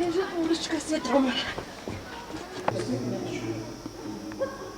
Инжет урочка сетромар.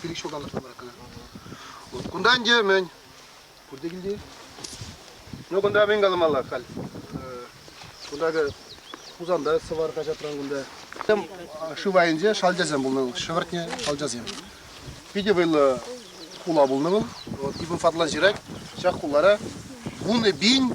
пилӗк ҫултан тӑрса Вот кунта ӗнтӗ мӗн? Пурте килти? Ну, кунта мӗн каламалла халь? Кунтакӑ Хусанта сӑвар хаҫатран кунта. Шыв айӗнче шалчасем пулнӑ вӑл, шӗвӗртнӗ шалчасем. Питӗ вӑйлӑ хула пулнӑ вӑл. Вот ибн Фатлан ҫырать, ҫак хулара вунӑ пин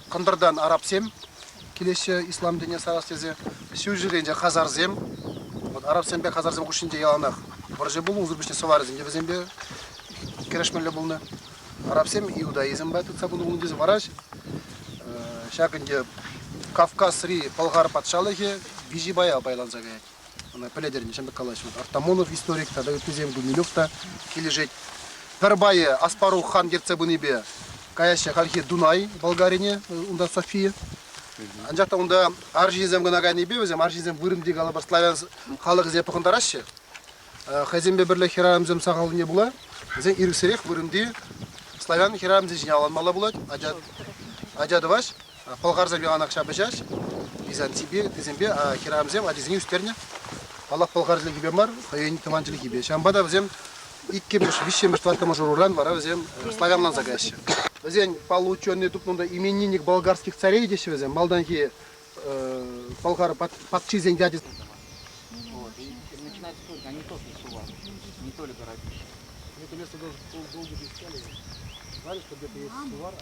Кӑнтӑртан арабсем килеҫҫӗ ислам дине сарас тесе. Ҫурҫӗрен те хазарсем. Вот арабсемпе хазарсем хушшинче яланах вӑрҫӑ пулнӑ, унсӑр пуҫне сӑварӗсем те вӗсемпе кӗрешмелле пулнӑ. Арабсем иудаизмпа тытса пынӑ пулнӑ тесе вараҫ. Ҫак ӗнтӗ Кавказри Пӑлхар патшалӑхӗ Бижибая пайланса каять. Ӑна пӗлетӗр, ҫавӑн пек калаҫнӑ. Артамонов историк тата ыттисем, Гумилев та килӗшет. Пӗр пайӗ Аспарух хан ертсе пынипе каяҫҫӗ хальхи Дунай Болгарине, унта София. Анчах та унта арҫынсем кӑна кайнипе вӗсем арҫынсем вырӑнти калӑпӑр славян халӑхӗсене пӑхӑнтараҫҫӗ. Хӑйсемпе пӗрле хӗрарӑмсем сахаллине пула вӗсен ирӗксӗрех вырӑнти славян хӗрарӑмсем ҫине аланмалла пулать, ача, ача тӑваҫ. Пӑлхарсем яланах ҫапӑҫаҫ. Византипе ыттисемпе хӗрарӑмсем ачисене ӳстернӗ. Паллах, пӑлхар чӗлхипе мар, хӑйӗн тӑван чӗлхипе. Ҫавӑнпа та вӗсем иккӗмӗш, виҫҫӗмӗш, тӑваттӑмӗш ӑруран вара вӗсем славянланса каҫҫӗ. Вӗсен паллӑ ученӑй тупнӑ унта именинник болгарских царей теҫҫӗ вӗсем. Малтанхи пӑлхар патшисен ячӗсем. Начинается только, они тоже засували, не только роднющие. Это место должен был быть искали, знали, что где-то есть сувар, а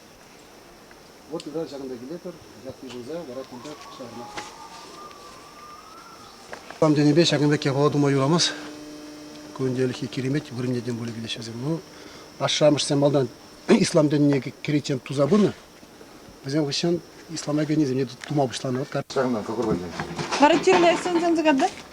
Вот тата ҫакӑнта килетпӗр, ят йышӑнса вара кунта куҫтарнӑ. Там тенипе ҫакӑн пек япала тума юрамас. Кунделхи киремет вырӑннетен пулӗ килеҫ вӗсем. Ну, ашшӗ-амӑшсем малтан ислам динне кӗриччен туса пынӑ. Вӗсем хыҫҫан ислама кӗнисене тума пуҫланӑ. Ҫакна какой войне? Характерно сенсен загадать?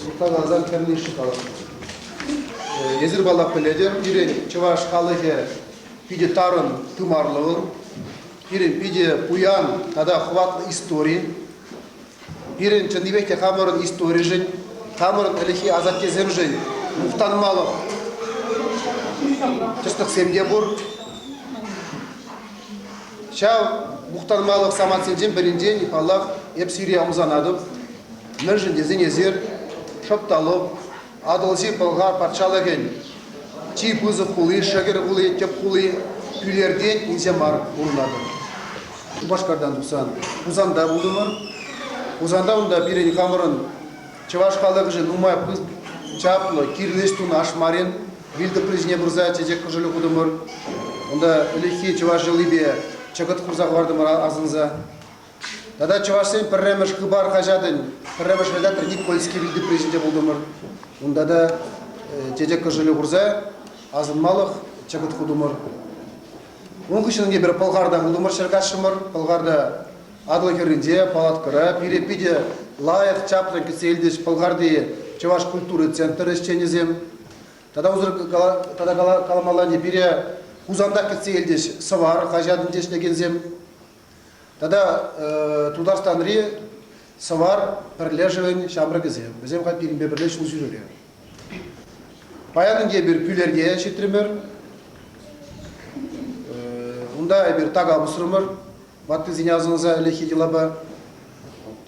Шутланарсан кӗрни-ши халӑх? Эсир паллах пӗлетӗр, пирӗн чӑваш халӑхӗ питӗ тарӑн тымарлӑ пирӗн питӗ пуян тата хӑватлӑ истори. Пирӗн чӑннипех те хамӑрӑн историшӗн, хамӑрӑн ӗлӗкхи асаттесемшӗн мухтанмалӑх тӗслӗхсем те пур. Ҫав мухтанмалӑх самантсенчен пӗринчен, паллах, эп сире ӑмсанатӑп. Мӗншӗн тесен эсир Шӑпталук, Атӑлҫи Пӑлхар патшалӑхӗн чи пысӑк хули, шӗкӗр хули, тӗп хули, Пӳлертен илсе мар пурӑнатӑр. Шупашкартан тухсан Хусанта пултӑмӑр. Хусанта унта пирӗн хамӑрӑн чӑваш халӑхӗшӗн нумай чаплӑ, кирлӗ ӗҫ тунӑ Ашмарин вилтӑприсене пырса чечек кӑшӑлӗ хутӑмӑр. Унта ӗлӗкхи чӑваш йӑлипе чӑкӑт хурса хӑвартӑмӑр асӑнса. Тата чӑвашсен пӗрремӗш Хыпар хаҫатӗн пӗрремӗш редактор Никольский вилти призӗнче пултӑмӑр. Унта та э, чечек кӑшӑлӗ хурса асӑнмалӑх чӑкӑт хутӑмӑр. Ун хыҫҫӑн эпир Пӑлхарта пултӑмӑр, ҫӗр каҫрӑмӑр. Пӑлхарта Атӑл хӗрринче, палаткӑра. Пире питӗ лайӑх чаплӑн кӗтсе илчӗҫ Пӑлхарти чӑваш культури центрӗ ӗҫченӗсем. Тата унсӑр тата каламалла пире Хусанта кӗтсе илчӗҫ Сӑвар хаҫатӗнче ӗҫлекенсем. Тата Тутарстанри Сӑвар пӗрлешӗвӗн ҫамрӑкӗсем, вӗсем хать пирӗнпе пӗрле ҫул ҫӳрере. Паян ӗнтӗ эпир Пӳлерте ҫитрӗмӗр. Унта эпир така пусрӑмӑр, ваттисене асӑнса ӗлӗкхи йӑлапа.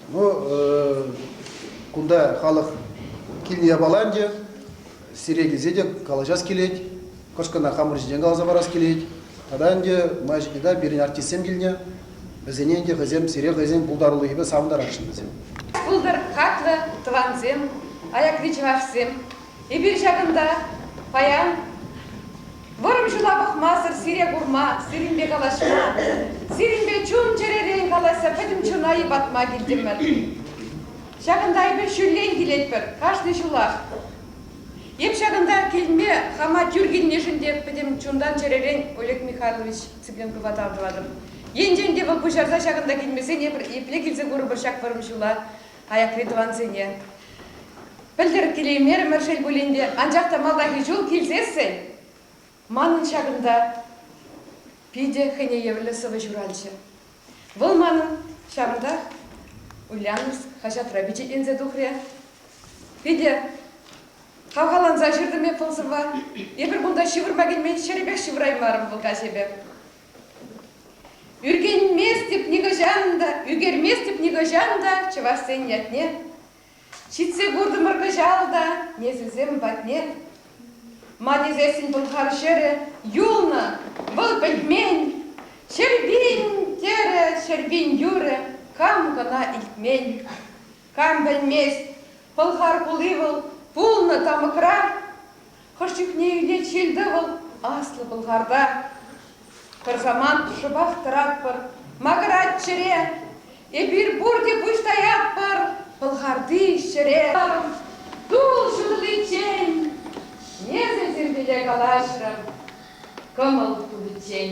Ну, кунта халӑх килне япала ӗнтӗ, Сире килсе те калаҫас килет, кӑшкӑна хамӑр ҫинчен каласа парас килет. Тата ӗнтӗ май ҫитнӗ пирӗн артистсем килнӗ. Вӗсене ӗнтӗ хӑйсем, сире хӑйсен пултарулӑхӗпе савӑнтарасшӑн вӗсем. Пултӑр хаклӑ тӑвансем, аякри чӑвашсем! Эпир ҫакӑнта паян вӑрӑм ҫула пӑхмасӑр сире курма, сирӗнпе калаҫма, сирӗнпе чун-чӗререн калаҫса пӗтӗм чуна йӑпатма килтӗмӗр. Ҫакӑнта эпир ҫуллен килетпӗр, кашни ҫулах. Эп ҫакӑнта килме хама тӳр килнишӗн те пӗтӗм чунтан-чӗререн Олег Михайлович Цыпленкова тав тӑватӑп. Енчен те вӑл пуҫарса ҫакӑнта килмесен эпир епле килсе курӑпӑр ҫак вӑрӑм ҫула аякри тӑвансене? Пӗлтӗр килеймерӗмӗр шел пулин те, анчах та малтанхи ҫул килсессӗн Манӑн ҫакӑнта питӗ хӑйне евӗрлӗ сӑвӑ ҫуралчӗ. Вӑл манӑн ҫавӑнтах Ульяновск хаҫатра пичетленсе тухрӗ. Питӗ хавхаланса ҫыртӑм эп вӑл сӑвва. Эпир кунта ҫывӑрма килмен ҫӗрӗпех ҫывӑраймарӑм вӑл каҫепе. Ӳркенместӗп нихӑҫан та, ӳкерместӗп нихӑҫан та чӑвашсен ятне. Ҫитсе куртӑмӑр кӑҫал та несӗлсем патне. Ма тесессӗн пӑлхар ҫӗрӗ юлнӑ, вӑл пӗлмен. Ҫӗрпин, терӗ Ҫӗрпин юрӗ, кам кӑна илтмен. Кам пӗлмест, Пӑлхар хули вӑл пулнӑ тамӑкра. Хӑш чухне илет ҫил-тӑвӑл Аслӑ Пӑлхарта. Пӗр самант шӑпах тӑратпӑр Макӑрать чӗре. Эпир пурте пуҫ таятпӑр Пӑлхарти ҫӗре. Тул ҫутӑличчен эсӗ тирпейле калаҫрӑн кӑмӑл тупиччен.